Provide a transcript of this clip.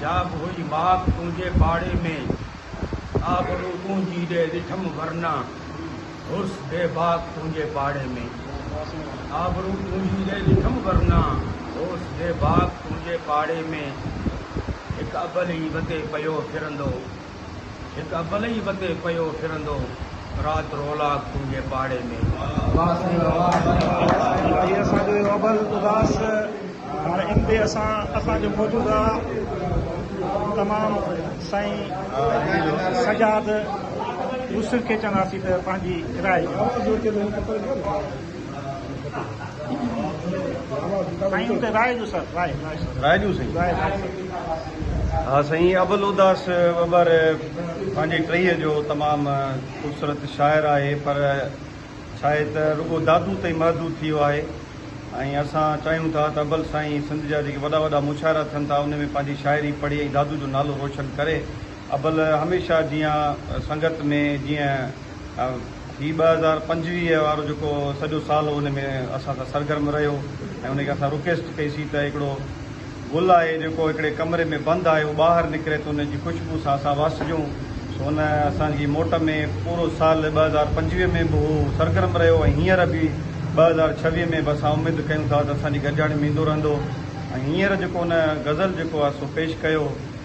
جا به هئي ماڪ تنهنجي پاڙي ۾، آبرو تنهنجي ڏي ڏٺم ورنه هوس بي باڪ تنهنجي پاڙي ۾، آبرو تنهنجي ڏي ڏٺم ورنه هوس بي باڪ تنهنجي پاڙي ۾، هڪ ابل ئي وتي پيو ڦرندو. هڪ ابل ئي وتي پيو ڦرندو، رات رولاڪ تنهنجي پاڙي ۾. واه سائين واه واه هي اسان جو اهو ابل اداس هاڻ ان تي اسان اسان جو موجوده تمام سائين سجاد يوسف کي چونداسين ته پنهنجي راء ڏين. ها سائين ابل اداس ٻٻر پنهنجي ٽهيء جو تمام خوبصورت شاعر آهي پر ڇا آهي ته رڳو دادو تائين محدود ٿي ويو آهي ۽ اسان چاهيون ٿا ته ابل سائين سنڌ جا جيڪي وڏا وڏا مشاعرا ٿين ٿا ان ۾ پنهنجي شاعري پڙهي ۽ دادو جو نالو روشن ڪري ابل هميشه جيان سنگت ۾ جيئي هي ٻه هزار پنجويهه وارو جيڪو سڄو سال هو ان ۾ اسان سان سرگرم رهيو ۽ ان کي اسان رڪويسٽ ڪئي سي ته هڪڙو گل آهي جيڪو هڪڙي ڪمري ۾ بند آهي هو ٻاهر نڪري ته ان جي خوشبو سان اسان واسجون سو ان اسان جي موٽ ۾ پورو سال ٻه هزار پنجويهه ۾ به هو سرگرم رهيو ۽ هينئر به ٻه هزار ڇويهه ۾ به اسان اميد ڪيون ٿا ته اسان جي گڏجاڻي ۾ ايندو رهندو ۽ هينئر جيڪو ان غزل جيڪو آهي سو پيش ڪيو